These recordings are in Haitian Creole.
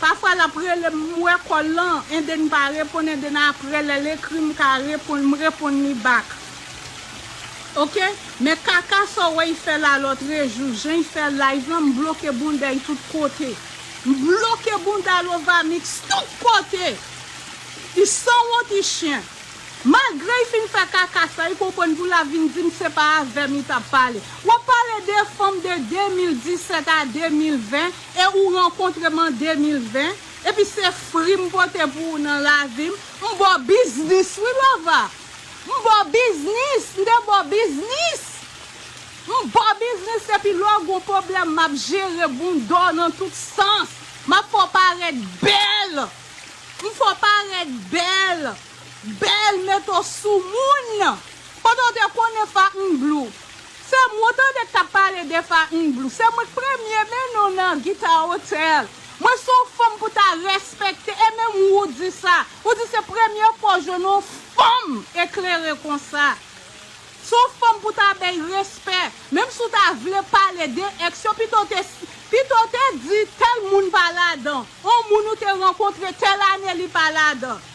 Pafwa lap relem m wè kòl lan ende n pa reponn ende n aprè lèl ekri m ka reponn m reponn li back ok men kaka sa w wè y fè la lòtre jou jan y fè live lan m bloke bounda y tout kote m bloke bounda lovamix tout kote y sanwont y chyen malgre y fin fè kaka sa y konprann pou la vin di m se pa avè m y tap pale wap pale de fanm de 2017 a 2020 E ou rankontre m an 2020 epi se fri m pote pou ou nan lavi m, m ba w biznis wi Lova! M ba w biznis, m te ba w biznis! M ba w biznis epi lè w gon pwoblèm m ap jere bounda w nan tout sans, m ap fè w parèt bèl! M fè w parèt bèl! Bèl mete w sou moun! Pandan w te konnen Fatnblu. Sèm wou tande kap pale de fa n blue se mwen k premye men non nan guitar hotel mwen son fanm pou ta respekte e menm wou di sa ou di se premye fwa w jwenn on fanm eklere konsa son fanm pou ta bèy respè menm si w ta vle pale de ex yo pito w te pito w te di tèl moun pa ladan on moun ou te rankontre tèl ane li pa ladan.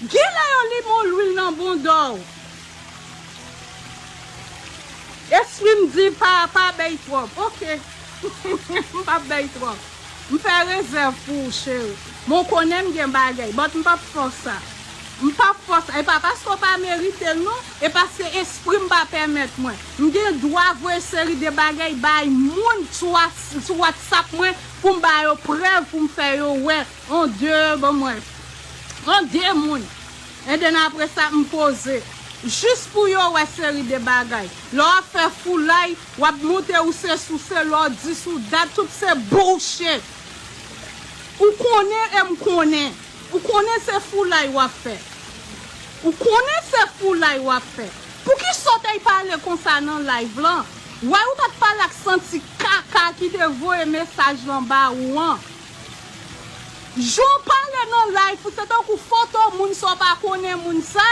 Genlè yo li mo lwil nan bondow. Esprim di pa pa bèy twòp ok m pap bèy twòp m fè rezèv pou ou cheri men w konnen m gen bagèy but m pap fè w sa m pap fè w sa e pa paske w pa meritel non e paske esprim pa pèmèt mwen m gen dwa voye seri de bagèy bay moun sou whatsapp mwen pou m ba yo prèv pou m fè yo wè On de bon mwen On de moun En den apre sa m poze Jis pou yo wè seri de bagay Lè w ap fè foulay W ap moute ou se souse Lè w dis ou dat tout se bullshit Ou konnen e m konnen Ou konnen se foulay w ap fè Ou konnen se foulay w ap fè Pouki sotey pale konsa nan live lan Wè ou ta t pale ak santi kaka ki te voye mesaj lan ba ou an Jan w pale nan life ou se tankou fantom moun sa w pa konnen moun sa.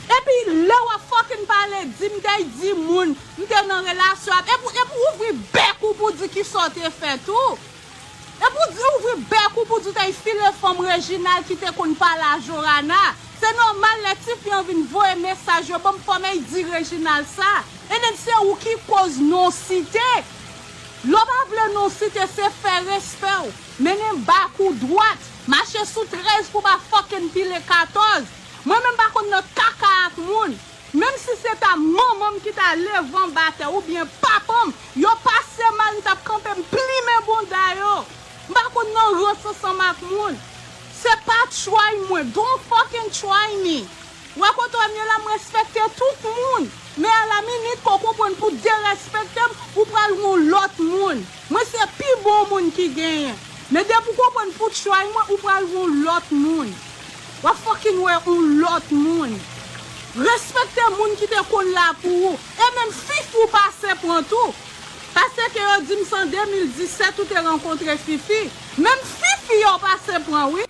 Epi lè wap fucking pale di m te di moun m te nan relasyon avl epi epi w ouvri bèk ou pou w di kisa w te fè tou. Epi w di ouvri bèk ou pou w di w te file fanm Reginald ki te konn pale a Jorana. Se nòmal lè tifi an vin voye mesaj yo banm fanm ey di Reginald sa. And then se ou ki koz non site. Lo pa vle non site se fè respèw mennen bak ou dwat mache sou 13 pou ba fucking pile 14 mwen menm pa konn nan kaka ak moun menm si se ta manmanm ki ta levanm ba tè ou byen papanm yo pase mal m tap kanpe m plimen bounda yo m pa konn nan rans ansanm ak moun se pa try mwen don't fucking try me. Wè kote w ye la m respekte tout moun men a la minit ke w konprann pou derespekte m ou pral yon lòt moun mwen se pi bon moun ki genyen men depi w konprann pou tray mwen ou pral yon lòt moun wap fucking wè yon lòt moun respekte moun ki te konn la pou ou e menm fif ou pase pran tou pase ke yo di m se an 2017 ou te rankontre fifi menm fifi a w pase pran wi.